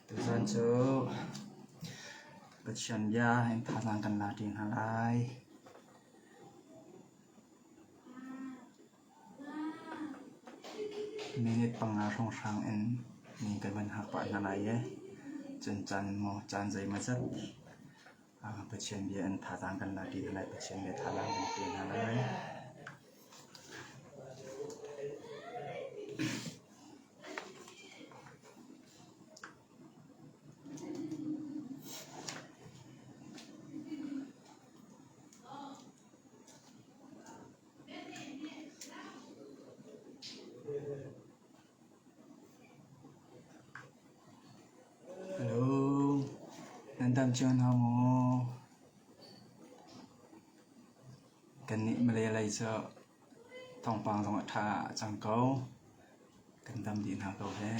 Tuchan cu Pathian bia in thazaang kan la te hna lai. Minute panga hrawnghrang in min kan van hngak pah hna lai i cun caan in maw caan zeimaw zat Pathian bia in thazaang kan lak i Lai Pathian bia thazaang kan pe hna lai. Lung nan dam cio hna maw? Kannih Malay lei cu thawngpang zong a ṭha cang ko. Kan dam dih hna ko heh.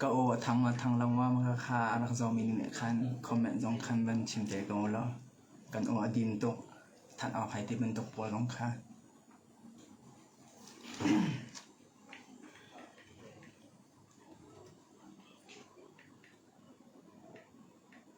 Ka aw a thang a thang lo ngawm khakha a rak zawmi nih khan comment zong khan van chim te ko law kan aw a din tuk thanh awk hai ti bantuk pawl zong kha.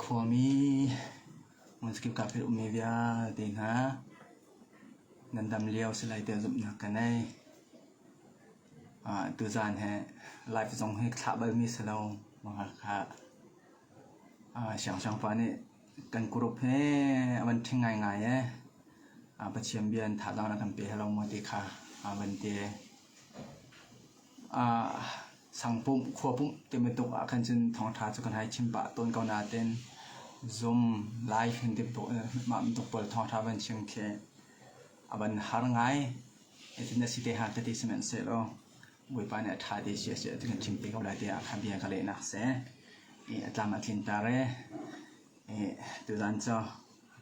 Khuami hmunkip kaa pet ummi vialte hna nan dam lio si lai tiah zumhnak ka ngei. Ah, tuzaan hi life zong hi thlah balmi si lo maw Hakha. Ah, siangsiang pa nih kan group hi a van ṭhing ngaingai i ah, Pathian bia in thazaang na kan pe hlah lo maw ti kha ah van ti. Sangpum khua pumh ti bantuk ah khan cun thawngṭha cu kan hai chim pah tawn ko nain zum, lai hin mah bantuk pawl thawngṭha van chim khi a van har ngai. Cutin a si te hnga titi sihmanhsehlaw Bawipa nih a ṭha te si a si ti kan chim te ko lai tiah a kha bia ka lehnak si. A tlam a tlinter i tuzan cu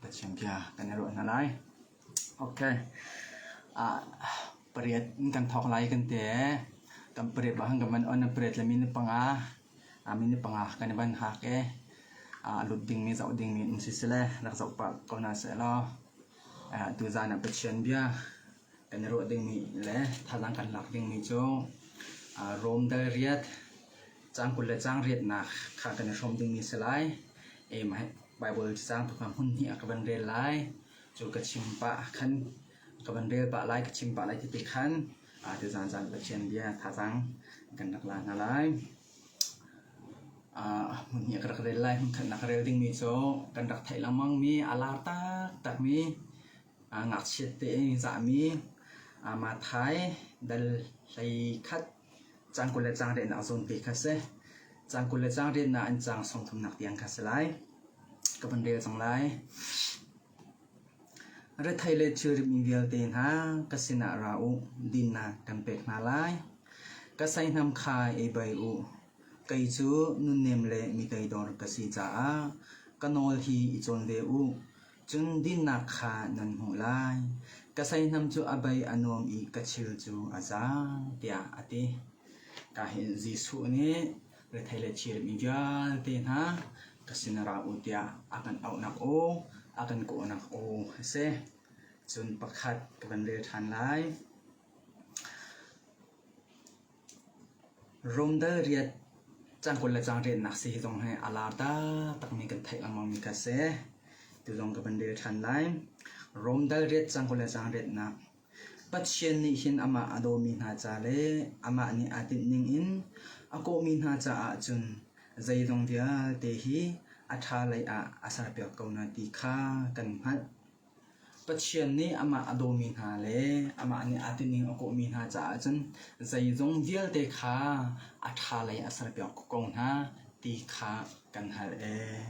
Pathian bia kan i ruah hna lai. Pariat in kan thawk lai kan ti i kan pariat bang khan kan van on. Pariat le minute panga minute panga kan i van hak i a lut dingmi zoh dingmi um siseh rak zoh pah ko hna sehlaw atu zan ah Pathian bia kan i ruah dingmi le thazaang kan lak dingmi cu Rom dal riat caang kul le caang riatnak kha kan i hrawm dingmi a si lai. Mah hi Baibal caang thawk hmun hnih ah ka van rel lai. cu ka chim pah khan ka van rel pah lai ka chim pah lai ti khan te zan zan Pathian bia thazang kan rak la hna lai hmun hi ka rak rel lai hmun khat nak rel dingmi cu kan rak theih lengmang mi a lar taktak mi ngakchiat te zahmi Mathai dal hlei khat Caan kul le caang riannak a zawn ve kha si. Caan kul le caang riannak an caang song thumnak tiang kha si lai. Ka van rel cang lai. Rethei le thilrimi vialte hna ka sinah ra u, dinnak kan pek hna lai. Ka seihnam kha ei bai u. Kei cu nunnem le mitei dor ka si caah ka nawl hi i cawn ve u. Cun dinnak kha nan hmuh lai. Ka seihnam cu a bei a nuam i ka thil cu a za, tiah a ti. Ka hin Jesuh nih rethei le thirmi vialte hna ka sin ra u tiah a kan auhnak aw, a kan kawhnak aw a si. Cun pakhat ka van rel ṭhan lai. Rome dal riat cangkul le cangṭennak si hi zong hi a lar taktakmi kan theih lengmangmi kha a si. Atu zong ka van rel ṭhan lai. Rome dal riat cangkul le cangṭennak Pathian nih hin amah a dawmi hna ca le amah nih aa tinh ningin a kawhmi hna caah cun zeizong vialte hi a ṭha lei ah a serpiak ko hna ti kha kan hngalh. Pathian nih amah a dawmi hna le amah nih aa tining a kawhmi hna caah cun zeizong vialte kha a ṭha lei a serpiak ko hna ti kha kan hngalh ee.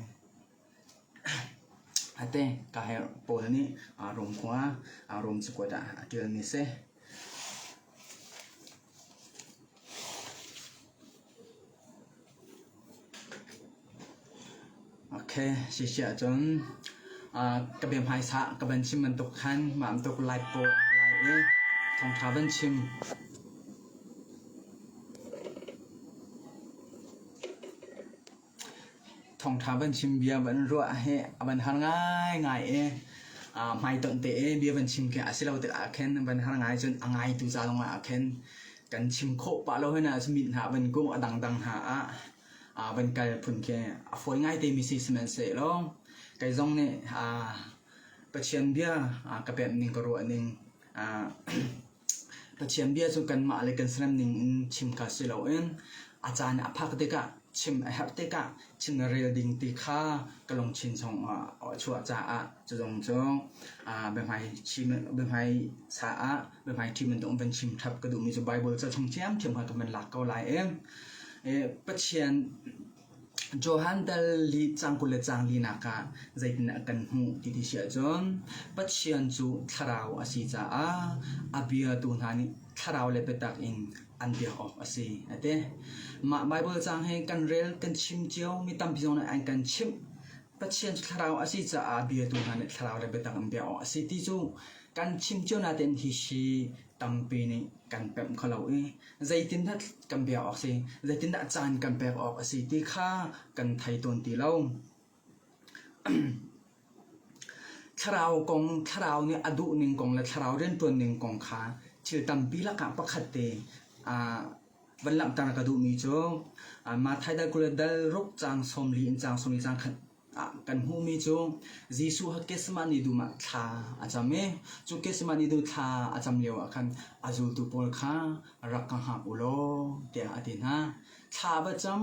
Ate ka herh Paul nih Rom khua Rom cakuat ah a ṭialmi a si. Si siah cun ka bia hmaisa ka van chim bantuk khan mah bantuk lai paw lai i thawngṭha van chim. Thawngtha van chim bia van ruah hi a van har ngaingai i aa hmaitonh te i bia van chim khi a si lo tik ahkhin van har ngai cun a ngaitu ca zongah ahkhin kan chim khawh pah lo hoi nain mit hna a van kum a dangdang hna ah aa van kal phun khi a fawi ngai te mi si sihmanhsehlaw kei zong nih aa Pathian bia aa ka pemh ning ka ruah ning aa Pathian bia cu kanmah le kan serem ningin chim kha si loin a caan i a phak tikah chim a herh tikah chim le rel ding ti kha ka lungthin chungah a chuah caah cu zong cu biahmai chim biahmai sa ah biahmai ṭhim in tung van chim ṭhap ka duhmi cu Baibal ca chung ṭhiamṭhiam kha ka van lak ko lai i Pathian Johan dal lih cang kul le cang linak ah zeitindah kan hmuh ti ti si ahcun Pathian cu thlarau a si caah a biatu hna nih thlarau le biatak in an biak awk a si a ti. Mah Baibal caang hi kan rel kan chim cio mi tampi zong nih an kan chimh. Pathian cu thlarau a si caah biatu hna nih thlarau le biatak an biak awk a si ti cu kan chim cio natein hi si tampi nih kan pemh kho lo i zeitindah kan biak awk a si, zeitindah caan kan pek awk a si ti kha kan thei tawn ti lo. thlarau kong thlarau nih a duh ning kong le thlarau riantuan ning kong kha thil tampi lakah pakhat te van langhter ka duhmi cu Matthai dal kule dal ruk cang sawmli in cang sawmli cang khat kan hmuhmi cu Jesuh ha Gethsemane dum ah thla a cam i cu Gethsemane dum thla a cam lioah khan a zultu pawl kha rak ka hngak u law tiah a ti hna. Thla va cam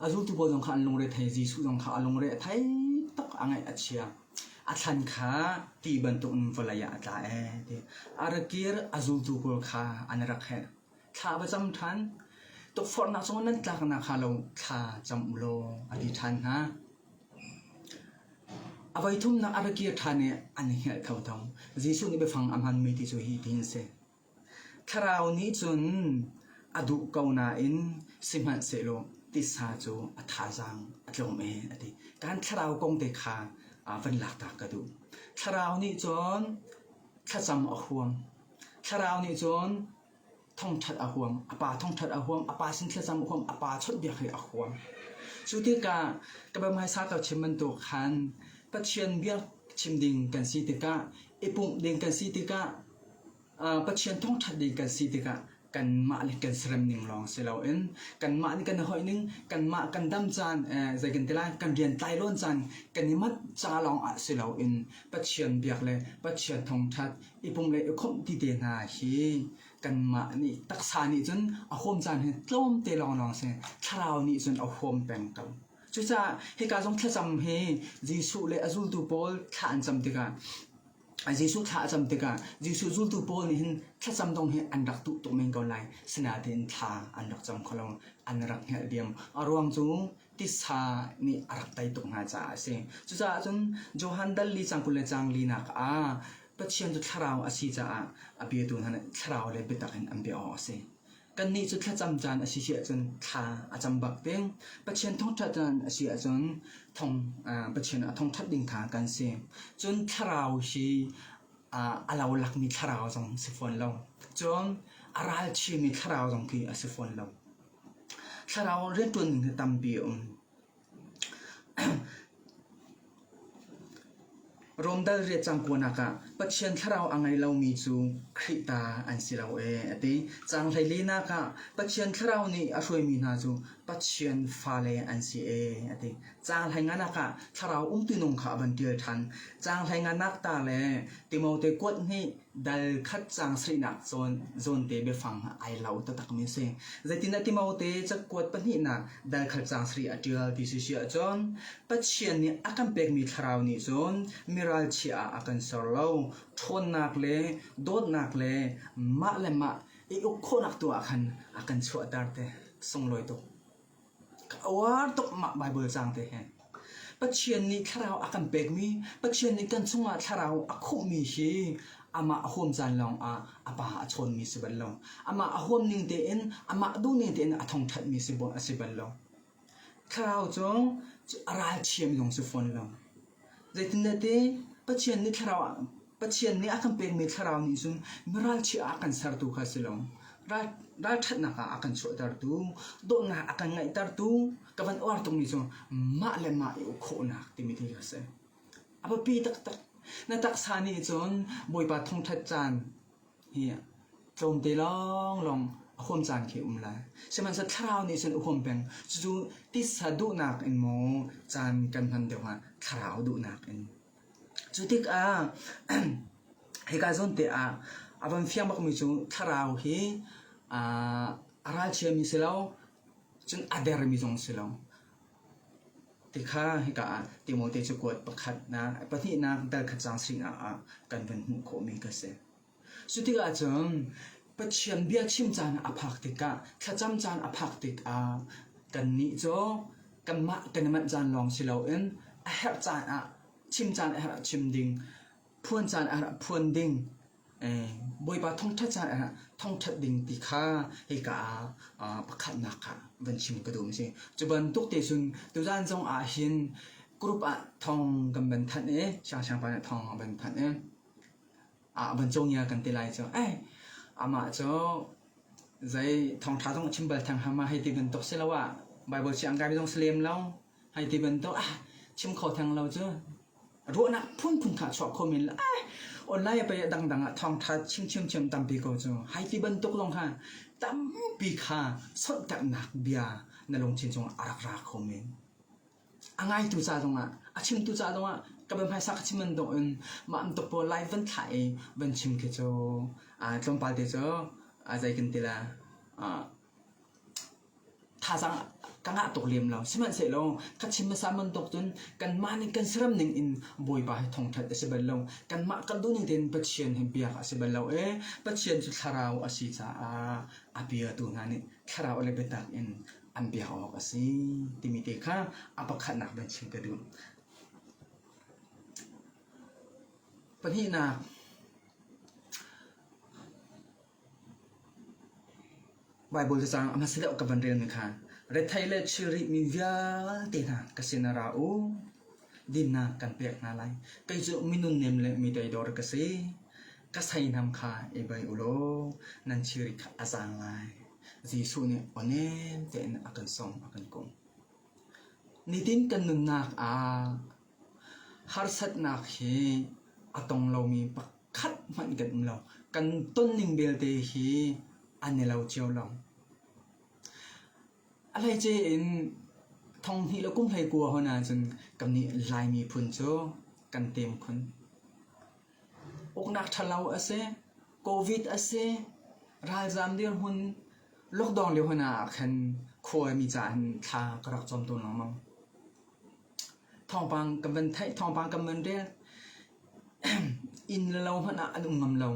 a zultu pawl zong kha an lungre thei Jesuh zong kha a lungre a thei tak a ngaih a chia a thlan kha ti bantukin vawlei ah a tla ee ti a rakir a zultu pawl kha an rak heh. Thla va cam ṭhan. Tukforhnak cungah nan tlaknak hnga lo thla cam u law a ti ṭhan hna. A voithumnak a ra kir ṭhan i an i hngilh kho tho. Jesuh nih biafang a hmanmi ti cu hi tihin a si. Thlarau nih cun a duh ko nain sihmanhsehlaw tisa cu a thazaang a tlawm e a ti. Kan thlarau kong te kha aa van laktak ka duh. Thlarau nih cun thlacam a huam. Thlarau nih cun thongṭhat a huam, a pa thongṭhat a huam, a pa sin thlacam a huam, a pa chawnhbiak hi a huam. Cu tikah ka biahmai sau ka chim bantuk khan Pathian bia chim ding kan si tikah, i pumh ding kan si tikah, Pathian thongṭhat ding kan si tikah kanmah le kan serem ning lawng si loin kanmah nih kan i hoih ning kanmah kan dam caan eh, zei kan ti lai kan rian tlai lawn caan kan i mat ca lawng ah si loin pathian biak le pathian thongthat i pum le i khomh ti te hna hi kanmah nih taksa nih cun a huam caan hi tlawm te lawng lawng si thlarau nih cun a huam peng ko cucaah hika zong thlacam hi jesuh le a zultu pawl thla an cam tikah Jesuh thla a cam tikah Jesuh zultu pawl nih hin thlacam dong hi an rak duh tuk men ko lai. Sinain thla an rak cam kho lo. An rak hngalh diam. A ruang cu tisa nih a rak tei tuk hna caah a si. Cucaah cun Johan dal li cang kul le cang linak ah Pathian cu thlarau a si caah a biatu hna nih thlarau le biatak in an bia awk a si. Kannih cu thlacam caan a si si ahcun thla a cam bak ding. Pathian thawngṭha caan a si ahcun thong, Pathian a thawngṭhat ding kha kan si. Cun thlarau hi a lolakmi thlarau zong si fawn lo. Cun a ralchiami thlarau zong khi a si fawn lo. Thlarau rianṭuan ning tampi a um. Rawmdal riat cangkuanak ah Pathian thlarau a ngei lomi cu Khrih ta an si lo ee a ti. Caang hleilinak ah Pathian thlarau nih a hruaimi hna cu Pathian fale an si ee a ti. Caang hleinganak ah thlarau umtu nung kha a van ṭial ṭhan. Caang hleinganak ta le Timote kuat nih Dal khat cang seihnak cawn zawnte biafang ai lo taktakmi a si. Zeitindah Timote cakuat pahnihnak dal khat cang sari a ṭial ti si si ahcun Pathian nih a kan pekmi thlarau nih cun miral chia ah a kan ser lo. Ṭhawnnak le dawtnak le mah le mah i uk khawhnak tu ah khan a kan chuahter te. Sunglawi tuk! A uar tuk mah Baibal caang te hi. Pathian nih thlarau a kan pekmi, Pathian nih kan chungah thlarau a khuhmi hi amah a huam caan lawngah a pa a chawnmi si bal lo. Amah a huam ning tein, amah duhning tein a thongthatmi si bal- a si bal lo. Thlarau cu a ralthiam lung si fawn lo. Zeitintiah Pathian nih thlarau ah Pathian nih a kan pekmi thlarau nih cun mi ralchiah ah a kan sertu kha a si lo. Ralṭhatnak ah a kan chuahtertu, dawtnak a kan ngeihtertu, ka van uar tukmi cu mah le mah i uk khawhnak timi khi a si. A biapi taktak. Na taksa nih cun Bawipa thawngṭhat caan Tlawmte lawnglawng a huam caan khi a um lai. Sihmanhseh thlarau nih cun a huam peng. Cucu tisa duhnak in maw caan kan hman deuh hnga thlarau duhnak in. Cu tikah hika zawnte ah a van fiang bakmi cu thlarau hi a ralchiami si lo, cun a dermi zong si lo. Ti kha hika ah Timote cakuat pakhatnak, pahnihnak darkhat caang singah ah kan vun hmuh khawhmi ka si. Cu tikah cun Pathian bia chim caan ah a phak tikah, thlacam caan a phak tikah kannih cu kanmah kan i manh caan lawng si loin a herh caan ah chim caan a herh ah chim ding, phuan caan a herh ah phuan ding, Bawipa thawngṭhat caah thawngṭhat ding ti kha hika ah pakhatnak ah van chim ka duh a si. Cu bantuk te cun tuzan zong ah hin group ah thawng kan van thanh i siangpahrang pa nih thawng a van thanh i a van cawngia kan ti lai cu. Amah cu zei thawngṭha zong a chim bal theng hama hei ti bantuk si lo ah Baibal si an kai mi zong si lem lo. Hai ti bantuk ah chim kho theng lo cu ruahnak phunphun kha chuah kho men la online pei dangdang ah thawngtha chim chim chim tampi ko cu hai ti bantuk lawng kha tampi kha solhtaknak bia na lungthin cung a rak ra kho men a ngaitu ca zong ah a chimtu ca zong ah ka be hmaisa ka chim man dong in ma am tuk pawl live van thla i van chim khi cu tlawmpal te cu a zei kan tila Thazaang ka ngah tuk lem lo. Sihmanhsehlaw ka chim hmasa bantuk cun kanmah nih kan saram ning in Bawipa hi thawngṭhat a si bal lo. Kanmah kalduh ning tein Pathian hi biak a si bal lo i Pathian cu thlarau a si caah a biatu hna nih thlarau le biatak in an biak awk a si timi te kha a pakhatnak in chim ka duh. Pahnihnak, Baibal cacang a hmasa deuh ka van relmi kha rethei le thilri mi vialte hna ka sinah ra u. Dinnak kan pek hna lai. Kei cu minung nem le mi toidor ka si. Ka seinam kha i bei u law nan thilri kha a zaang lai. Jesuh nih awnem tein a kan sawm, a kan kumh. Nitin kan nunnak ah Harsatnak hi a tong lomi pakhat hmanh kan um lo. Kan tonning belte hi an i lo cio lo. A hleice in thawnghnih le kum hleikua hon ahcun kannih Laimi phun cu kan tem khun. Uknak ṭhalo a si, Covid a si, ralzaam dirhmun, lockdown lio hon ah khan khuami ca in thla ka rak cam tawn lengmang. Thawngpang kan van theih, thawngpang kan van rel. Inn le lo hmanh ah an um ngam lo.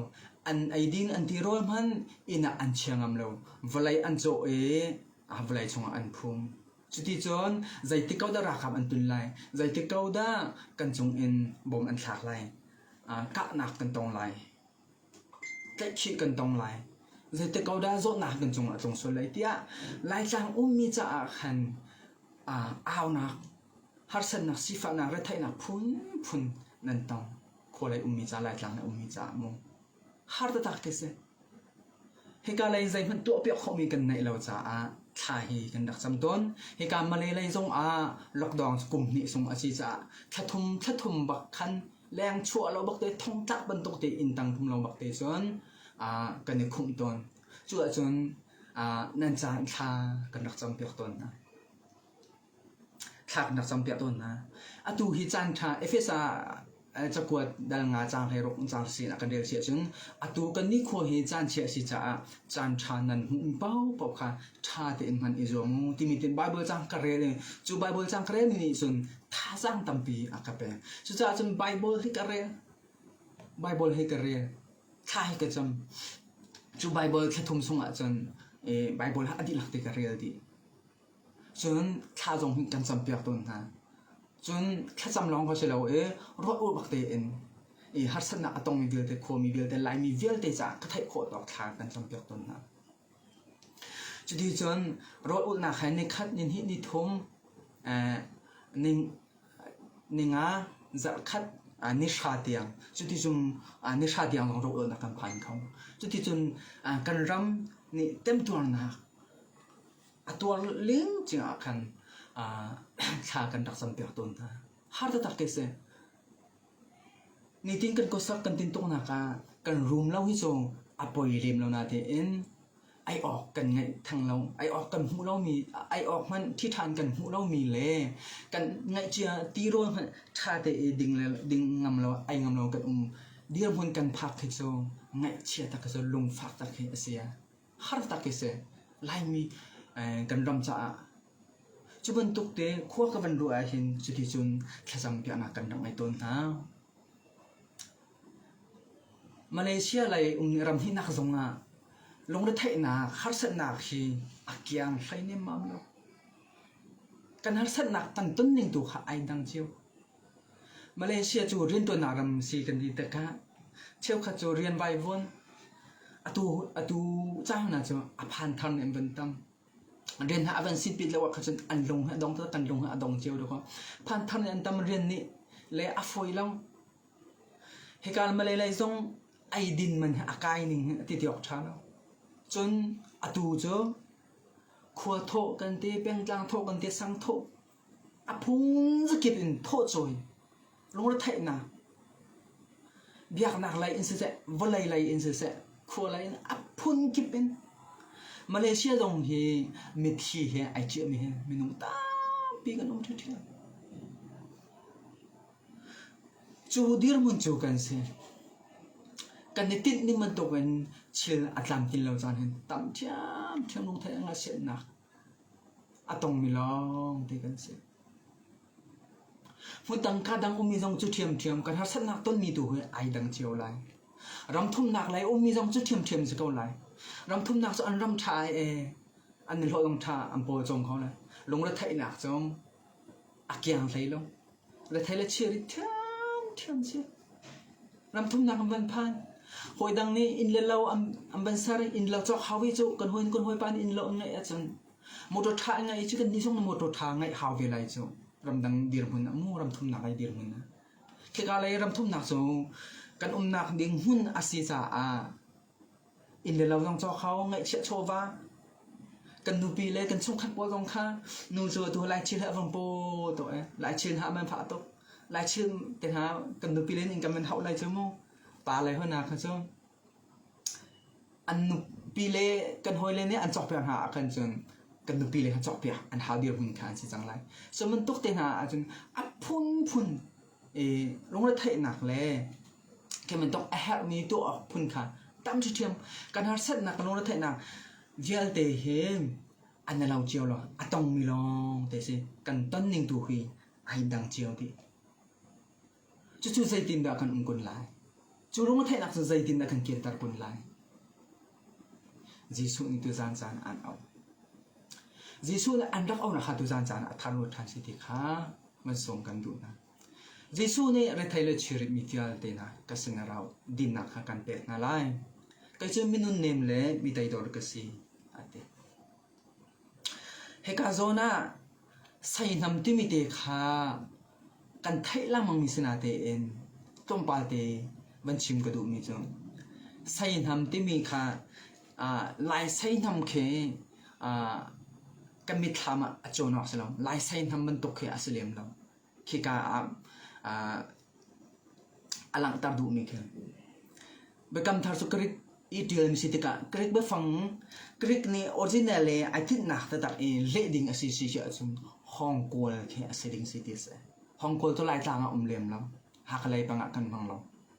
An eidin an ti rual hmanh inn ah an chia ngam lo. Vawlei an cawh i a vawlei chungah an phum. Cuti cun zeitik ko dah ralkap an tun lai? Zeitik ko dah kan cungin bom an thlak lai? Kahnak kan tong lai. Tlaihkhih kan tong lai. Zeitik ko dah zawtnak kan cung ah a tlung sual lai tiah Laitlang ummi caah khan aa aunak, harsatnak, sifahnak, retheihnak phunphun nan tong. Khualei ummi caah, Laitlang i ummi caah maw? Har taktak khi si. Hika lei zeihmanh tuahpiak khawhmi kan neih lo caah thla hi kan rak cam tawn. Hika Malay lei zong ah lockdown kum hnih sung a si caah thla thum thla thum bak khan leng chuah lo bak te thongtlak bantuk te in tang thum lo bak te cun kan i khumh tawn cu ahcun nan ca in thla kan rak cam piak tawn hna thla kan rak cam piak tawn hna atu hi caan ṭha efesa cakuat dal nga cang hlei ruk cang sin a kan rel si ahcun atu kan ni kho hi caan chia si caah caan ṭha nan hmu pau pau kha ṭha te in hman i zuam u timi tin bible cang ka rel i cu bible cang ka rel ni cun thazaang tampi a ka pek cucaah cun bible hi ka rel bible hi ka rel thla hi ka cam cu bible thlathum chung ah cun bible ha a dihlak te ka rel dih cun thla zong hi kan cam piak tawn hna cun thlacam lawng ko si lo i ruah ur bak tein i harsatnak a tongmi vialte khuami vialte laimi vialte caah ka theih khawh tawk thla kan cam piak tawn hna Cuti cun rawlulhnak he ni khat ni hnih ni thum ninga zarhkhat ni hra tiang cuticun ni hra tiang lawng rawlulhnak kan phan kho. Cuticun kan ram nih temtuarnak a tuar lengcing ahkhan thla kan rak campiak tawn hna. Har taktak khi a si. Nitin kan kawsak kan tin tuk nak ah kan rum lo hi cu a poi lem lo na tein ai awk kan ngeih theng lo. Ai awk kan hmuh lomi, ai awk hmanh ṭhi ṭhan kan hmuh lomi le kan ngaih cia ti rawl hmanh ṭha tein ding le ding ngam lo, ai ngam lo kan um. Dirhmun kan phak khi cu ngaihchia tak hi cu lungfak tak hi a si. hartak hi si. Laimi kan ram caah cu bantuk te khua ka van ruah ahhin cuti cun thlacam piahnak kan rak ngei tawn hna. Malaysia lei um ram hi nak zong ah lungretheihnak harsatnak hi a kiang hlei nem mam lo. Kan harsatnak tan ton ning tu kha ai dang cio. Malaysia cu riantuannak ram si kan ti tikah cheukhat cu rian vai vuan atu ca hna cu a phan thar nih an van tam. Rian hna a van sit pit lo ah khan cun an lung hi a dong tuk, kan lung hi a dong cio tuk. Phan thar nih an tam, rian nih le a fawi lo. Hika Malay lei zong eidin man hi a kai ning hi ti ti awk ṭha lo. Cun atu cu khua thawh kan ti, pengtlang thawh kan ti, sang thawh A phung zakip in thawhcawi, lungretheihnak, biaknak lei in siseh, vawlei lei in siseh, khua lei in a phunkip in Malaysia zong hi mithi he ai ciahmi hi minung tampi kan um ṭhiṭhian. Cu dirhmun cu kan si. Kan i tinh ning bantukin thil a tlamtlin lo caan hin tam ṭhiamṭhiam lungthei a ngasiannak A tongmi lawngte kan si. Hmuttang ka dang ummi zong cu ṭhiamṭhiam kan harsatnak tonmi tu hi ai dang cio lai. Ramthumnak lei ummi zong cu ṭhiamṭhiam si ko lai. Ramthumnak cu an ram ṭha ai ee. An i hlawih ṭha an pawl cawng ko lai. Lungretheihnak zong a kiang hlei lo. Rethei le chiarit ṭhiamṭhiam a si. Ram thumnak an van phan. Hawi dang nih inn le lo an van ser. Inn lo cawk hau i cu kan hawi kan hawipa nih inn lo an ngeih ahcun motor ṭha an ngei i cu kannih zong na motor ṭha ngeih hau ve lai cu. Ramdang dirhmun ah mu ram thumnak ai dirhmun ah. Khika lei ram thumnak cu kan umnak ding hmun a si caah Inn le lo zong cawk hau, ngaihchiah chawva. Kan nupi le kan chungkhat pawl zong kha nu cu atu laichin hi a vung paw tuk i laichin hah man fah tuk. Laichin te hna kan nupi le nih innka man hauh lai cu mu. Pa le hoi hna kha cu an nupi le kan hawi le nih an cawkpiak hna ahkhan cun kan nupi le kha cawkpiak an hau dirhmun kha an si cang lai. Cu bantuk te hna ahcun a phunphun lungretheihnak le kebantuk a herhmi tuah awk phun kha tam ṭhiṭhiam kan harsatnak lungretheihnak vialte hi an i lo cio lo a tongmi lawng te si kan ton ning tu hi ai dang cio dih cucu zeitindah kan um kun lai cu lungretheihnak cu zeitindah kan kirter kun lai Jesuh nih tuzan caan ah an auh. Jesuh le an rak auhnak kha tuzan caan ah a tharlut ṭhan si ti kha van sawm kan duh hna. Jesuh nih rethei le chirip mi vialte hna ka sinah ra u, dinnak kha kan pek hna lai. Kei cu minun nem le mi teidor ka si, a ti. Hika zawn ah seihnam timi te kha kan theih lengmang mi si natein tlawmpal te van chim ka duh mi cu. Seihnam timi kha aa Lai seihnam khi aa kan mitthlam ah a cawn awk a si lo. Lai seihnam bantuk khi a si lem lo. khika ah uh, a langhter duhmi khi biakam thar cu Greek i ṭialmi si tikah Greek biafang Greek nih original le ai tinhnak taktak i leh ding a si si cu ahcun hong kual khi a si ding si ti a si hong kual cu laitlang ah um lem lo hakalei pangah kan hmang lo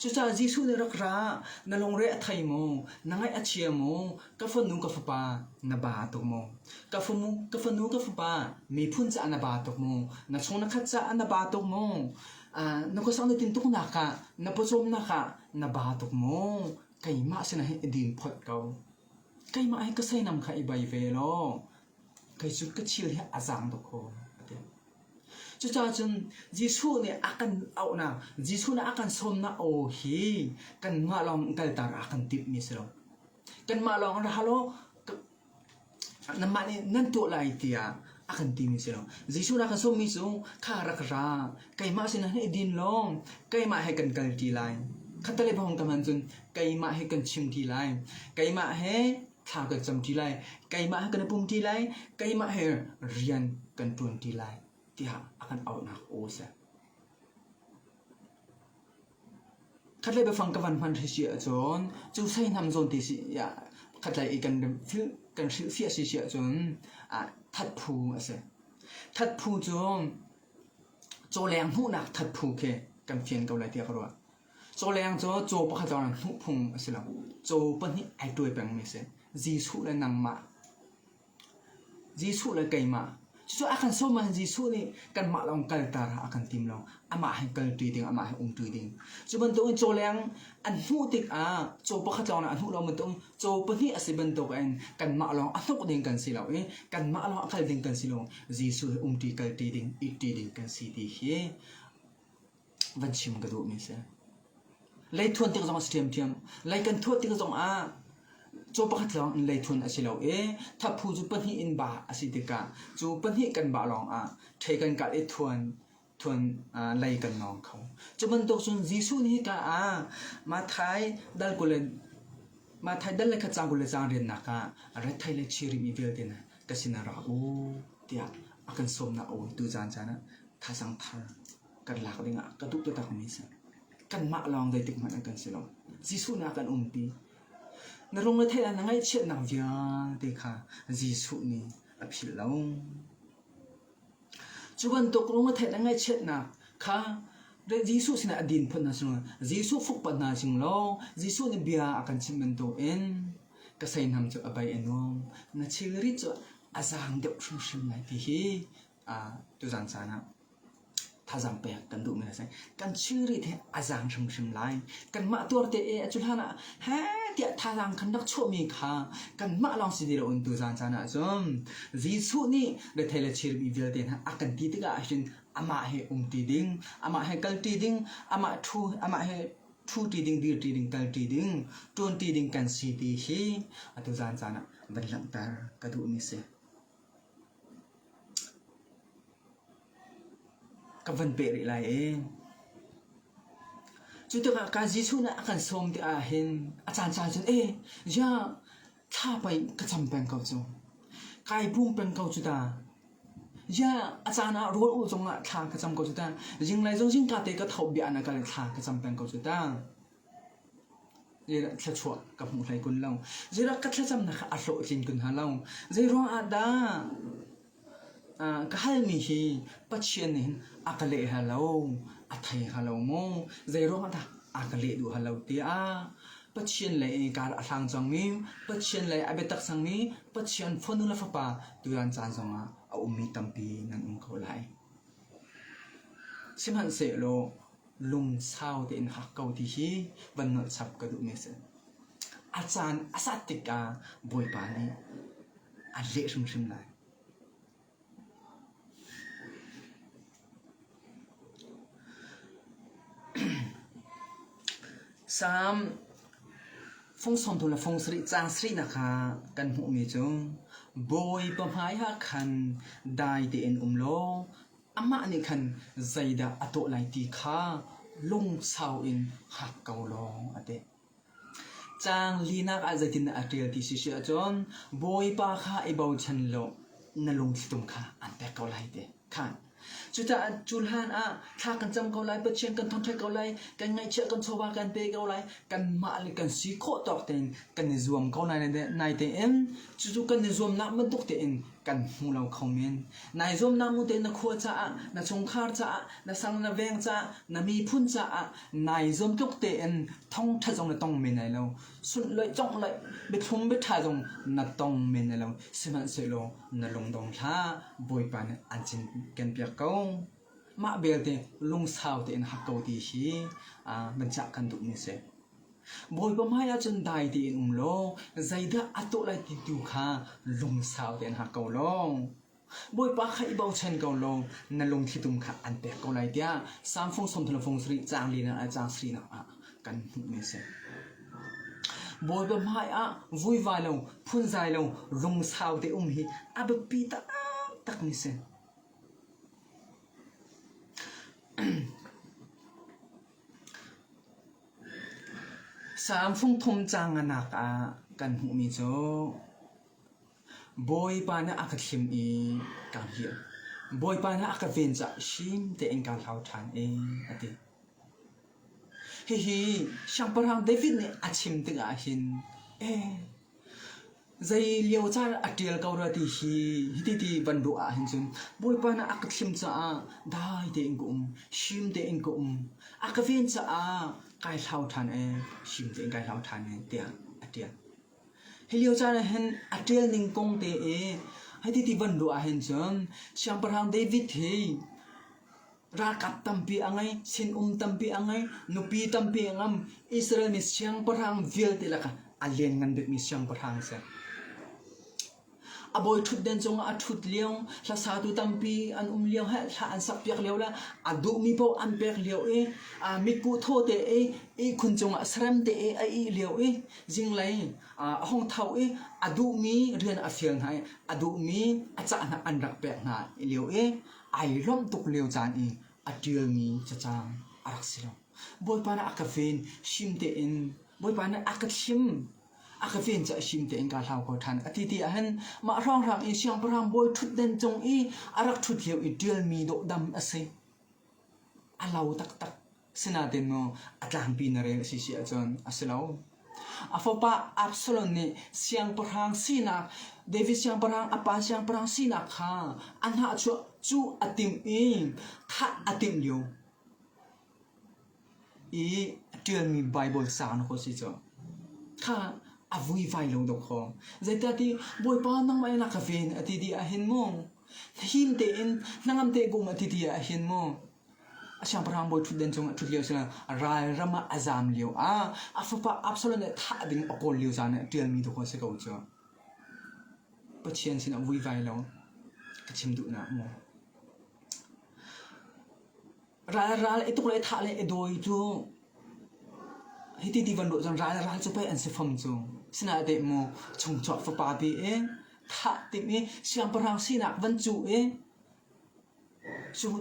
Cucaah Jesuh nih a rak ra, Na lungre a thei maw? Na ngaih a chia maw? Ka fanu, ka fapa, na ba tuk maw? Ka fanu, ka fanu, ka fapa, miphun caah na ba tuk maw? Na chung na khat caah na ba tuk maw? na khuasang na tintuknak ah, na pawcawmnak ah na ba tuk maw? Keimah sinah hin i din phot ko. Keimah hi ka seinam kha i bei ve law, kei cu ka thil hi a zaang tuk fawn a ti. Cucaah cun Jesuh nih a kan auhnak, Jesuh nih a kan sawmnak aw hi kanmah lawng kalter a kan timhmi a si lo. Kanmah lawng ra hal u, nanmah nih nan tuah lai tiah a kan timi a si lo. Jesuh nih a kan sawmmi cu kha rak ra, keimah sinah hin i din law keimah he kan kal ti lai. Khattelei pa hong tam ahcun keimah he kan chim ti lai. Keimah he thla kan cam ṭi lai. Keimah he kan i pum ṭi lai. Keimah he rian kan ṭuan ṭi lai tiah a kan auhnak aw a si. Khatlei biafang ka van hman hrih si ahcun cu sei hnam zawn te si ya khatlei i kan fil kan hrilhfiah si si ahcun ah thatphu a si. Thatphu cu cawleng hmuhnak thatphu khi kan fian ko lai tiah ka ruah. Cawleng cu caw pakhat lawng in hnuh phung a si lo. Caw pahnih ai tuai pengmi a si. Jesuh le nangmah. Jesuh le keimah. Cucu a kan sawm ahhin Jesuh nih kanmah lawng kalter a kan tim lo. Amah he kalṭi ding, amah he umṭi ding. Cu bantukin cawleng an hnuh tikah caw pakhat lawng a hnuh lo bantuk caw pahnih a si bantukin kanmah lawng a hnuk ding kan si lo i kanmah lawng a kal ding kan si lo. Jesuh he umṭi, kalṭi ding, itṭi ding kan si ti khi van chim ka duhmi a si. Lei thuan tik zong a si ṭhiamṭhiam. Lei kan thuat tik zong ah caw pakhat lawng in lei thuan a si lo i thaphu cu pahnih in bah a si tikah cu pahnih kan bah lawng ah ṭhei kan kalh i thuan thuan uh, lei kan nawng kho. Cu bantuk cun Jesuh nih hika ah Matthai dal kul le Matthai dal le khatsang kul le zanriannak ah rat thei le chi rihmi vialte na ka sinah ra u tiah a kan sawmnak a uitu caan caan ah thazaang thar kan lak ding ah ka duh takmi a si. Kanmah lawng zeitik hmanh ah kan si lo. Jesuh nak kan umpi. Na rungrethei ah na ngaihchiatnak vialte kha Jesuh nih a philh lo. Cu bantuk rungrethei na ngaihchiatnak kha Jesuh sinah a din phun hna sung Jesuh fuk pa hna sing law Jesuh nih bia a kan chim bantuk in ka seinam cu a bai a nuam na thilri cu a zaang deuh hrimhrim lai ti hi Tuzaan caan ah thazaang pek kan duhmi a si. Kan chiri te a zaang hrimhrim lai. Kanmah tuarte e a cu hlan ah he tiah thazaang kan rak chuahmi kha kanmah lawng si ti loin tuzaan caan ah cun Jesuh nih rethei le chirmi vialte hna a kan ti tikah ahhin amah he umṭi ding, amah he kalṭi ding, amah ṭhu, amah he ṭhuṭi ding, dirṭi ding, kalṭi ding, ṭuanṭi ding kan si ti hi atu zaan caan ah van langhter ka duhmi a si. ka van peh rih lai i cu tikah kan Jesuh nih a kan sawm ti ahhin a caancaan cun eh ziah thla pei ka cam peng ko cu kai pum peng ko cu ta ziah a caan ah rawl ul zongah thla ka cam ko cu ta zinglei zong zingka te ka tho bia in a kal i thla ka cam peng ko cu ta Thluachuah ka hmu hlei kun lo. Zeiruang ka thlacamnak kha a hlawhtlin kun hna lo. Zeiruang ah dah ka halmi hi Pathian nih hin a ka leh hna lo, a thei hnga lo mu? Zeiruang ah dah a ka leh duh hna lo tiah Pathian lei in kar a hlang cangmi, Pathian lei a biatak cangmi Pathian fanu le fapa tutan caan zong ah a ummi tampi nan um ko lai. Sihmanhsehlaw lung sau tein hak ko ti hi van nolh chap ka duhmi a si. A caan a sat tikah Bawipa nih a leh hrimhrim lai. Psalm fung som tu le fung sari cang sri na kha kan hmuhmi cu Bawipa hmai ha khan dai tein um law Amah nih khan zeidah a tuah lai ti kha lungsau in hngak ko lawng a ti. Caang linak ah zeitindah a ṭial ti si si ahcun Bawipa kha i bochan law na lungthlitum kha aan pek ko lai ti kha cucaah cu hlan ah thla kan cam ko lai Pathian kan thongṭhet ko lai kan ngaihchiat kan chawva kan pe ko lai kanmah le kan si khawh tawk tein kan i zuam ko lai naitein cucu kan i zuamnak bantuk tein kan hmu lo kho men. Nai zuam na mu tein na khua caah, na chungkhar caah, na sang na veng caah, na miphun caah nai zuam tluk tein thongtha zong na tong men lai lo. Sunhlawih conglawih biathlum biatha zong na tong men lai lo. Sihmanhsehlaw na lungdong hlah Bawipa nih an cinken piak ko. Mah belte lungsau tein hak ko ti hi banchah kan duhmi si. Bawipa hmaiah cun dai tein um law zeidah a tuah lai ti tu kha lungsau tein hngak ko law Bawipa kha i bochan ko law na lungthlitum kha an pek ko lai tiah Psalm fung sawmthalafung sarih caang linak le caang sarinak ah kan hmuhmi a si. Bawipa hmaiah vuivai lo phunzai lo lungsau te um hi a biapi taktakmi si. Saam fungthum caang a nak ah kan hmuhmi cu Bawipa nih a ka thlim i kaa hngilh. Bawipa nih a ka ven caah hrim tein kaa hlau ṭhan i a ti. Hihi Siangpahrang David nih a chim tikah hin, ee, Zei liocar a ṭial ko rua ti hi hititi van ruah ahhin cun Bawipa na a ka thlim caah dai tein ka um, hrim tein ka um, a ka ven caah kai hlau ṭhan ee, hrim tein kai hlau ṭhan ee tiah a ṭial. Hi liocar ahhin a ṭial ning kong te i hititi van ruah ahhin cun Siangpahrang David hi Ralkap tampi a ngei, sinum tampi a ngei, nupi tampi a ngam. Israel mi siangpahrang vialte lakah a lianngan bikmi siangpahrang a si. A bawi ṭhutden cungah a ṭhut lio, hlasatu tampi an um lio, he thla an sakpiak lio le a duhmi paoh an pek lio i a mitkuh thaw te i ihkhun cungah sarem te i a ih lio i zinglei a hong tho i a duhmi rian a fial hna i a duhmi a cah hna an rak pek hna lio i ai lawmh tuk lio caan i a ṭialmi cacang a rak si lo. Bawipa nih a ka ven him tein Bawipa nih a ka thlim a ka ven cu a him tein kaa hlau ko ṭhan a ti ti ahhin mah hrawnghrang i siangpahrang bawi ṭhutdan cung i a rak ṭhut lio i ṭialmi dawhdam a si a lau taktak Asinain maw a tlangpi na rel a si si ahcun a si lo. A fapa Absalom nih siangpahrang sinak David siangpahrang a pa siangpahrang sinak kha a hnahchuah cu a timh i thah a timh lio i a ṭialmi Baibal sang na kho si cu kha a vuivai lo deuh kho. Zeicah ti Bawipa nangmah in a ka ven a ti ti ahhin maw him tein hnangam te bum a ti ti ahhin maw A siangpahrang bawi ṭhutden cungah ṭhut lio cun ral ram ah a zaam lio ah a fapa Absalom nih thah ding a kawl lio caan ah ṭialmi dawh a si ko cu. Pathian sinah vuivai law ka chim duh na mu. Ral ral i tuk le thah le i dawi cu hiti ti van ruah cun ral ral cu pei an si fam cu. Sinain te mu chungchuak fapa te i thah ding i siangpahrang sinak van cuh i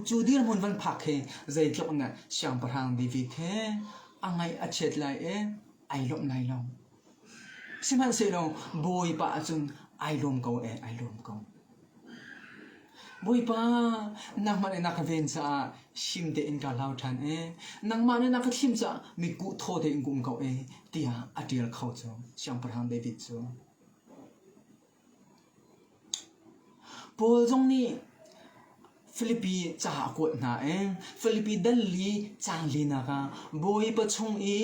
Cu dirhmun van phak hi zeitluk in dah siangpahrang bikbik he a ngaih a chiat lai i ai lawmh lai lo. Sihmanhsehlaw Bawipa ahcun ai lawm ko e, ai lawm ko. Bawipa, nangmah le na ka ven caah him tein ka hlau ṭhan i nangmah le na ka thim caah mitkuh thaw tein ka um ko e, tiah a ṭial kho cu siangpahrang David cu. Paul zong nih Filipi ca a kuat hna i Filipi dal i caan linak ah Bawipa chung i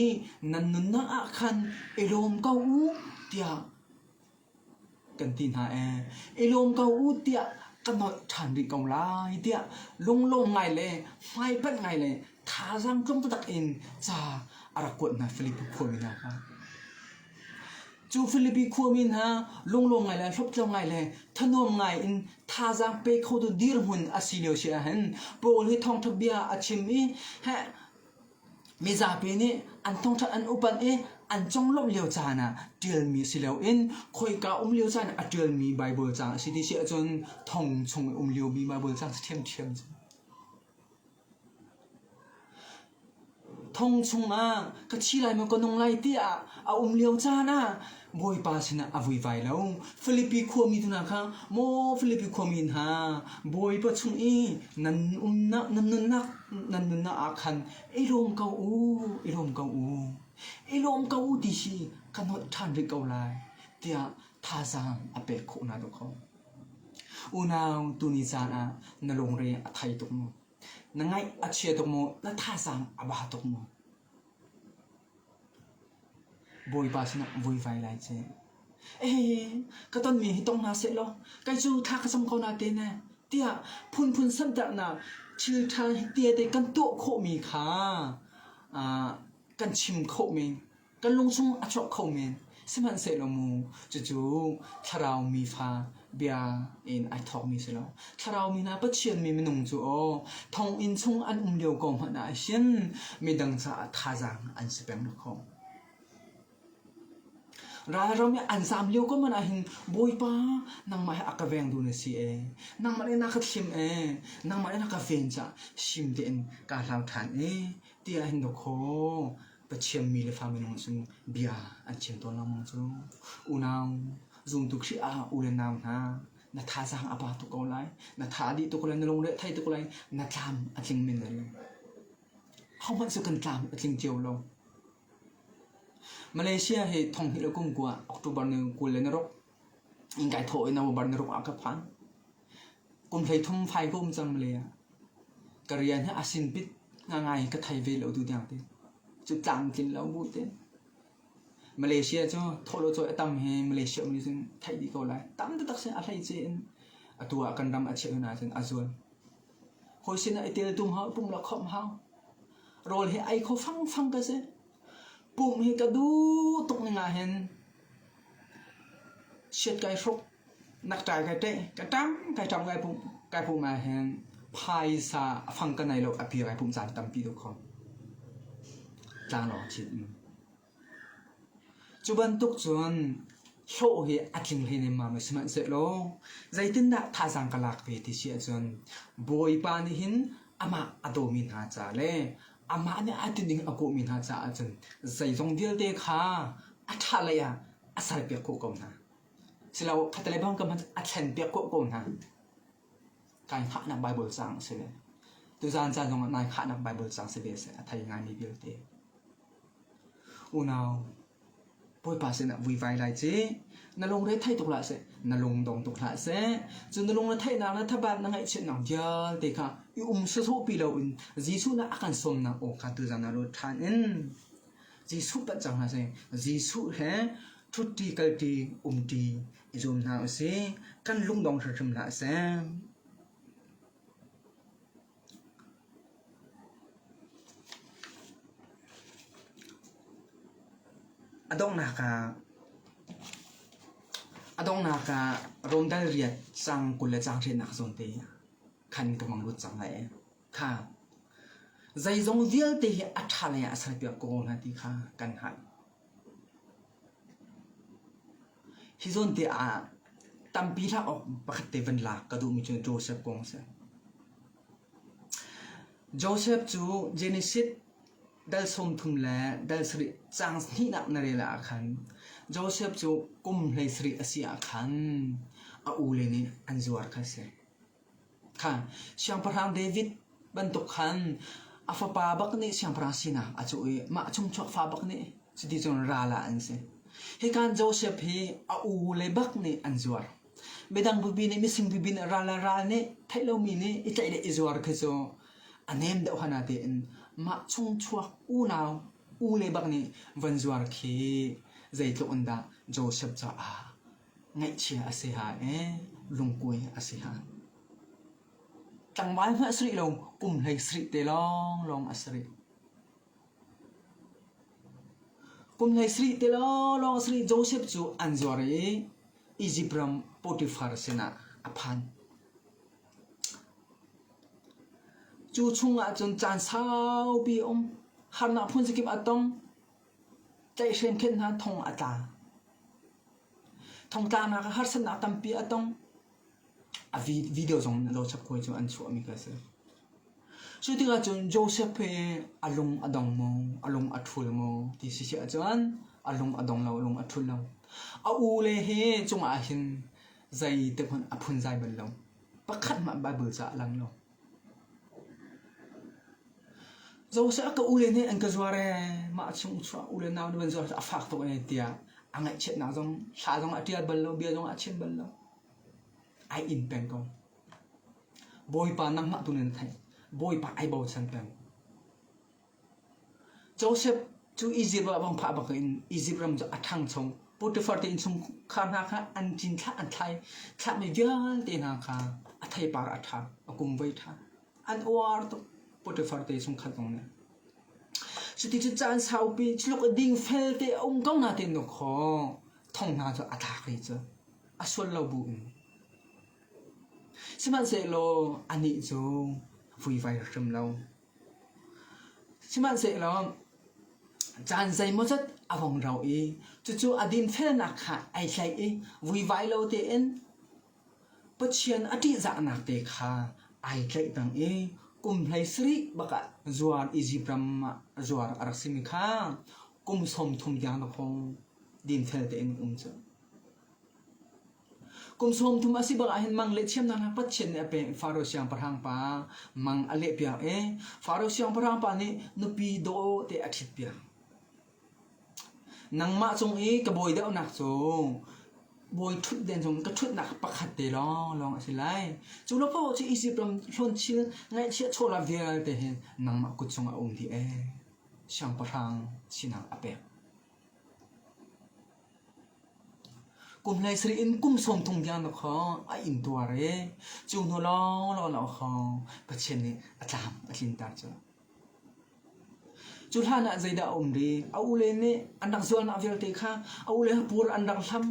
nan nunnak ah khan i lawm ko u tiah kan ti hna i i lawm ko u tiah ka nolh ṭhan rih ko lai tiah lunglawm ngai le hmaipanh ngai le thazaang tlung taktak in ca a rak kuat hna Filipi khuami hna kha. Cu Filipi khuami hna lunglawm ngai le hlawptlau ngai le thanuam ngai in thazaang pe khotu dirhmun a si lio si ahhin Paul hi thawngṭha bia a chim i heh mizapi nih an thawngṭha an upat i an conglawmh lio caan ah ṭialmi a si lo in khoika um lio caan a ṭialmi Baibal caang a si ti si ahcun thong chung i um liomi Baibal caang si ṭhiamṭhiam cu Thong chungah ka thi lai maw ka nung lai tiah a um lio caan ah Bawipa sinah a vuivai lo. Filipi khuami tu hna kha maw Filipi khuami hna Bawipa chung i nan umnak nan nunnak nan nunnak ah khan i lawm ko u i lawm ko u i lawm ko u ti hi ka nolh ṭhan rih ko lai tiah thazaang a pek khawh hna deuh ko. Unau tuni caan ah na lungre a thei tuk maw? Na ngaih a chia tuk maw? Na thazaang a ba tuk maw? Bawipa sinah vuivai lai ce. Ee, ka tonmi hi tong hna seh law, kei cu thla ka cam ko nate ne, tiah phunphun santernak thilṭha hi tehte kan tuah khawhmi kha ah kan chim khawh men. Kan lungsung a chuak kho men, sihmanhsehlaw mu, cucu thlarau mi fa bia in ai thawkmi si lo. Thlarau mi hna Pathianmi minung cu aw thonginn chung an um lio ko hmanh ah hin midang caah thazaang an si peng lo ralram i an zam lio ko man ah hin bawipa nangmah he a ka veng du na si e nangmah le na ka thlim e nangmah le na ka ven ca shim te in ka hlau than e tia hin do kho Pathian mi le fa minung sin bia an chim tawn lengmang cu. Unau zumtu Khrih ah u le nau hna na thazaang a pa tuk ko lai. Na tha a dih tuk lai, na lungre thei tuk lai. Na tlam a tling men lai. Hohmanh su kan tlam a tling cio lo. Malaysia hi thong hi le kum kua October ni kul le narok in kai thaw in bar na ruk ah ka phan kum hlei thum fai ko um cang le ka rian hi asin pit nga ngai ka thai ve lo tu dang te cu tlang tlin lo bu te Malaysia cu tholo cho atam hi Malaysia mi sun thai di ko lai tam ta tak sin a hlai che in atua kan ram a cheu na sin azul hoi sin ai tel tung ha pum la khom hau rol hi ai kho fang fang ka se Pum hi ka duh tuk ning ahhin siat kai hruk, nak ṭai kai ṭeh, ka ṭam kai ṭam kai pum, kai pum ahhin phaisa a fang ka nei lo a pi kai pum caan tampi deuh kho. Tlanglawng chin. Cu bantuk cun hlawh hi a tling hlei nemmam a si sihmanhsehlaw zeitindah thazaang ka lak ve ti si ahcun Bawipa nih hin amah a dawmi hna ca le amah nih a tining a hmuhmi hna caah cun zeizong vialte kha a ṭhahlei ah a salpiak khawh ko hna. Silo, khatalei bang ka hmanh a thlenpiak khawh ko hna. Kai hngahnak Bible caang a si ve. Tuzaan caan zongah nai hngahnak Bible caang si ve a si. A thei ngaimi vialte. Unau, Bawipa sinah vui vai lai ci. Na lung rethei tuk hlah seh, na lung dong tuk hlah seh. Cun na lung retheihnak le thabaat na ngaihchiatnak vialte kha i um sawsawhpi loin Jesuh nih a kan sawmnak aw kha tu zan ah lut ṭhan in Jesuh palh cang hlah seh. Jesuh he ṭhuṭi kalṭi umṭi i zuam hna u sih. Kan lung dong hrimhrim hlah seh. A donghnak ah rawndal riat cang kul le cangṭhinak zawn te khan ka hmang lut cang lai ee. Kha zeizong vialte hi a ṭha lei ah a sal piak ko oung hna ti kha kan hngalh. Hi zawn te ah tampi hlah awk pakhat te van lak ka duhmi cu Joseph kong a si. Joseph cu Genesis dal sawm thum le dal sarih cang hnihnak na rel ah khan Joseph cu kum hlei sarih a si ah khan a ule nih an zuar kha a si. Siangpahrang David bantuk khan a fapa bak nih siangpahrang sinak a cuh i mah chungchuak fa bak nih cuti cun ral ah an si. Hikan Josef hi a u le bak nih an zuar. Midang bupi nih mising bupi nih ral le ral nih theih lomi nih i tlaih le i zuar khi cu a nem deuh hana tein mah chungchuak unau u le bak nih von zuar khi zeitluk in dah Josef caah Ngeihchia a si hai ee, lungkuai a si hai. Tlangval hmanh a si rih lo, kum hlei si rih te lawnglawng a si rih. Kum hlei si rih te lawnglawng a si rih. Joseph cu an zuar i Izipt ram Potifar sinah a phan. Cu chung ah cun caan saupi a um. Harnak phun zakip a tong. Tlaihhreen khenh hna thong a tla. Thongtlanak ah harsatnak tampi a tong. A video zong in a lo chap hawi cu an chuahmi kha a si. Cu tikah cun Joseph hi a lung a dong maw, a lung a ṭhul maw ti si si ahcun a lung a dong lo, a lung a ṭhul lo. A u le hi cungah hin zei te hmanh a phunzai bal lo. Pakhat hmanh Bible ca a lang lo. Cawseh a ka ule nih an ka zuar ee, mah a chung chuah ule nau nih an zuar a fak tuk ee tiah a ngaihchiatnak zong, thla zong a tial bal lo, bia zong a chiat bal lo. Ai in peng ko. Bawipa nangmah tu in an theih. Bawipa ai bochan peng. Josef cu Izipt ah vangfah bangin Izipt ram cu a ṭhangcho. Potifar te innchungkhar hna kha an ṭin thlah an thlai. Thlahmi vialte hna kha a theipar a ṭha, a kum voi ṭha. An uar tuk Potifar te chungkhat zong nih. Cuticun caan saupi thiluk a ding felte a um ko hna ti in khawh thong hna cu a tlak i cu a sual lo bu in. Sihmanhsehlaw anih cu vui vai hrim lo. Sihmanhsehlaw caan zeimawzat a vung ro i cucu a dinfelnak kha ai tlaih i vuivai lo tein Pathian a ṭihzahnak te kha ai tlaihpeng i kum hleisarih bak ah zuar Izipt ram ah zuar a rak simi kha kum sawmthum tiang na kong dinfel tein um cu. Kum sawm thum a si bak ahhin mang le thiamnak hak Pathian nih a pek i Faro siangpahrang pa mang a lehpiak i Faro siangpahrang pa nih nupi dawh te a ṭhitpiak. Nangmah cung i ka bawi deuhnak cu bawi ṭhutden cung ka ṭhutnak pakhat te lawng lawng a si lai. Cu lo paoh cu Izipt ram hlawn thil ngaihchia chola vialte hin nangmah kut chung a um dih ee. Siangpahrang sinak a pek. Kum hlei sarih in kum sawm thum tiang na khawng a inn tuar i cu hnu lawnglawng na khawng Pathian nih a tlam a tlinter cu. Cu hlan ah zeidah a um rih? A ule nih an rak zualnak vialte kha a ule hapur an rak hlam.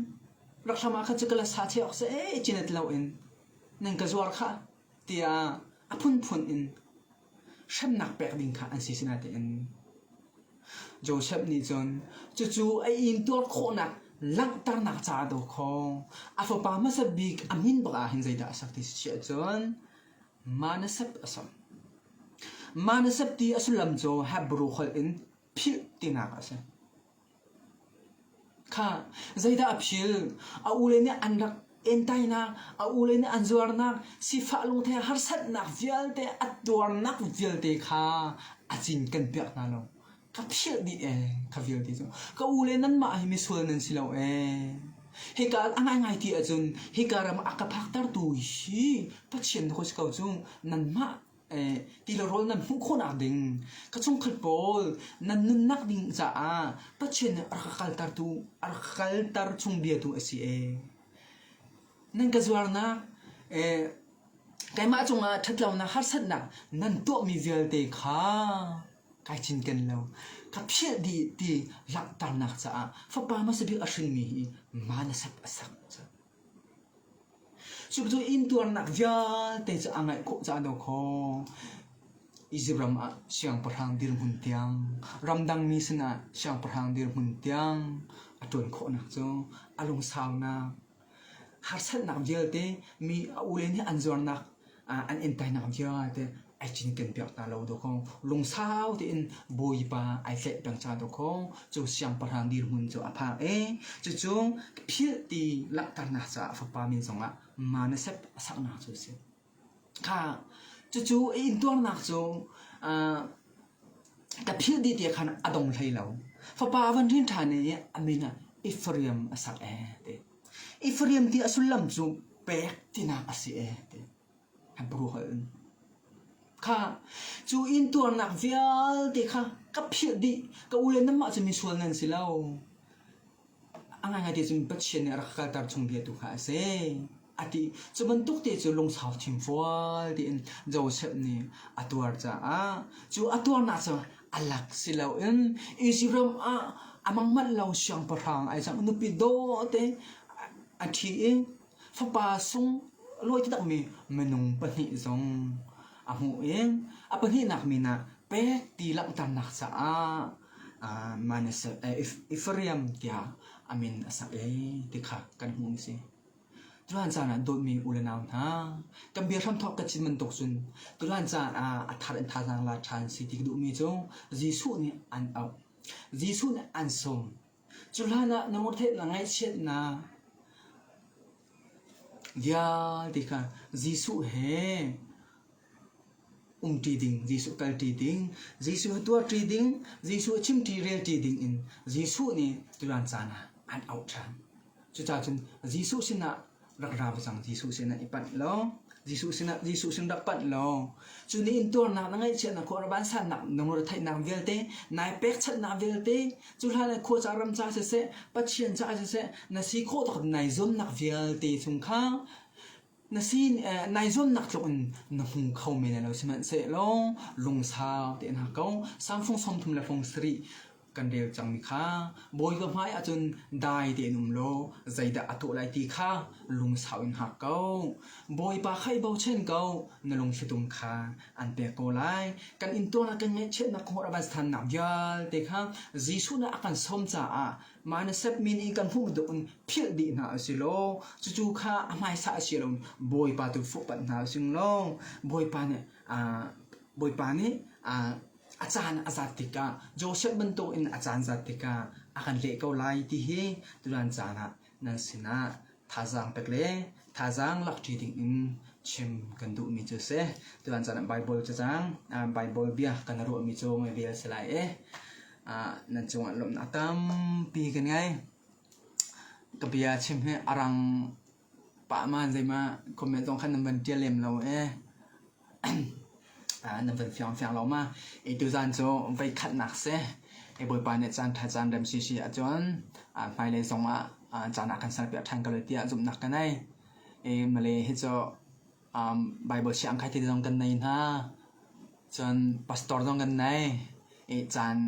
Rak hlam ah khan cu ka la sa ṭheh awk seh cin it loin nan ka zuar khah. tiah a phunphun in hremnak pek ding kha an si sinain Josef nih cun cucu a intuar khawhnak langhternak caah daw khaw a fapa hmasat bik a min bak ah hin zeidah a sak ti si ahcun Manasep a sak. Manasep ti a sullam cu Hebru holh in philh tinak a si. Kha zeidah a phil? A ule nih an rak entainak, a ule nih an zuarnak, sifah lungthe harsatnak vialte, a tuarnak vialte kha a cin kan piak hna lo. Ka philh dih ee, ka vialte cu. Ka ule nanmah hi misual nan si lo ee. Hika a ngaingai ti ahcun, hika ram a ka phaktertu hi Pathian na ku si ko cu. Nanmah Tila rawl nan hmuh khawhnak ding ka chungkhat pawl nan nunnak ding caah Pathian nih a rak ka kalter tu a rak ka kalter chung bia tu a si ee. Nan ka zuarnak keimah cungah ṭhatlonak harsatnak nan tuahmi vialte kha kai cinken lo. Ka philh dih ti langhternak caah Fapa hmasabik a hringmi hi ma na sap a sak. Cucu intuarnak vialte cu a ngaih khawh caah a do kho. Izipt ram ah siangpahrang dirhmun tiang, ramdangmi sinah siangpahrang dirhmun tiang a ṭuan khawhnak cu a lungsaunak, harsatnak vialte mi a ule nih an zuarnak, an inn tainak vialte ai cinken piak hna lo dawh kong lungsau tein bawipa ai tlaih peng ca dawh kong cu siangpahrang dirhmun cu a phak i cucu philh ti langhternak caah fapa min zongah manasep a saknak cu a si kha cucu i intuarnak cu ka philh dih tiah khan a dong hlei lo fapa van rin ṭhan i a min ah Ephraim a sak e ti I fahriam ti a sullam cu pek tinak a si ee ti Hebrew holh in. Kha cu intuarnak vialte kha ka phiat dih ka u le namah cu misual nan si lo. A ngai ngaite cun Pathian nih a rak kalter chung bia tu kha a si. A ti cu bantuk te cu lungsau thim fual tiin Joseph nih a tuar caah cu a tuarnak cu A lak si loin Israel ah a mangmanh lo siangpahrang ai cang. Nupi dawte a ṭhi i fapa sung lawi takmi minung pahnih zong a hmuh i a pahnihnak min ah Pek ti langhternak caah uh, Manasseh, uh, Ephraim tiah a min a sak i ti kha kan hmuh a si. Tulan caan ah dawtmi u le nau hna, kan bia hramthawk ka cin bantuk cun tulan caan ah a thar in thazaang la ṭhan si ti ka duhmi cu Jesuh nih an auh. Jesuh nih an sawm. Cu hlanah na ngurhtheih na ngaihchiatnak vialte kha Jesuh he umṭi ding, Jesuh kalṭi ding, Jesuh a tuahṭi ding, Jesuh a chimṭi relṭi dingin Jesuh nih tutan caan ah an auh ṭhan. Cucaah cun Jesuh sinah rak ra va cang, Jesuh sinah i panh law, Jesuh sinah Jesuh sin rak panh law, cu nih intuarnak na ngaihchiatnak khua rabansannak lungretheihnak vialte, nai pekchanhnak vialte, cuhlan le khuaca ramca siseh, Pathian caah siseh na si khawh tawk nai zuamnak vialte chung kha Na sin eh naizawnnak tluk in na hmu kho men lo sihmanhsehlaw lungsau tein ha ko. Samsung sawmthum le fong sarih kan rel cangmi kha bawi ka hmai ahcun dai tein um law zeidah a tuah lai ti kha lungsau in hak ko bawipa khai bochan ko na lungshitum kha an pek ko lai kan in tuana kan ngaihchiatnak kong raban stan nak vialte kha Jesuh na akan som caah Mah na sapmi nih kan hmuh bantuk in philh dih hna u si law cucu kha a hmaisa a si lo Bawipa tu fuhpanh hna u sing law Bawipa nih Bawipa nih a caan a zat tikah Joseph bantuk in a caan zat tikah a kan leh ko lai ti hi turan caan ah nan sinah Thazaang pek le thazaang lakṭi dingin chim kan duhmi cu a si. Tuan caan ah Baibal cacang, Baibal bia kan ruahmi cu ngaihvel si lai i nan cungah lawmhnak tampi kan ngei. Ka bia chim hi a rang pahman zeimah comment zong khan nan van ṭial lem lo ee. nan van fiangfiang lo ma i tuzan cu voi khatnak si i bawipa nih caan ṭha caan rem si si ahcun hmailei zong ah caan ah kan salpiak ṭhan ko lai tiah zumhnak ka nei i male hi cu Baibal siangkhat hi zong kan nei hna cun pastor zong kan nei i caan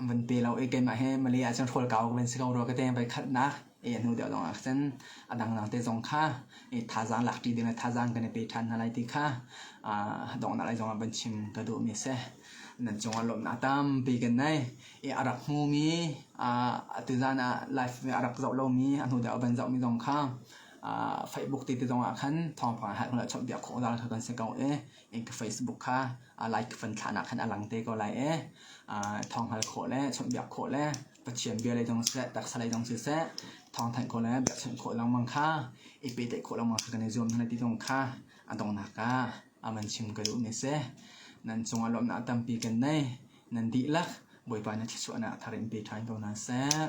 van pe lo i keimah hi male ahcun hrual kau ka van si ko rua ka te voi khatnak e hnu deuh lawng ah khan a dangdang te zong kha e thazaang lakṭi ding le thazaang kan i pe ṭhan hna lai ti kha donghnak lei zongah van chim ka duhmi a si nan cungah lawmhnak tam bik nai i a rak hmumi atu zan ah live a rak zoh lomi a hnu deuh van zohmi zong kha Facebook ti te zongah khan thawngpang hal khawh chawmpiak khawh dal kha kan si ko e in ka Facebook kha like fan thlahnak khan a lang te ko lai e thawng hal khawh le chawmpiak khawh le Pathian bia lei dong siseh, taksa lei dong siseh, thawngthanh khawh le biakchanh khawh lengmang kha i pehtlaih khawh lengmang kha kan i zuam hna ti zong kha a dongnak ah aman chim ka duh mi si. Nan cungah lawmhnak tampi kan nei. Nan dihlak Bawipa na thluachuahnak thar in pe ṭhan ko hna seh.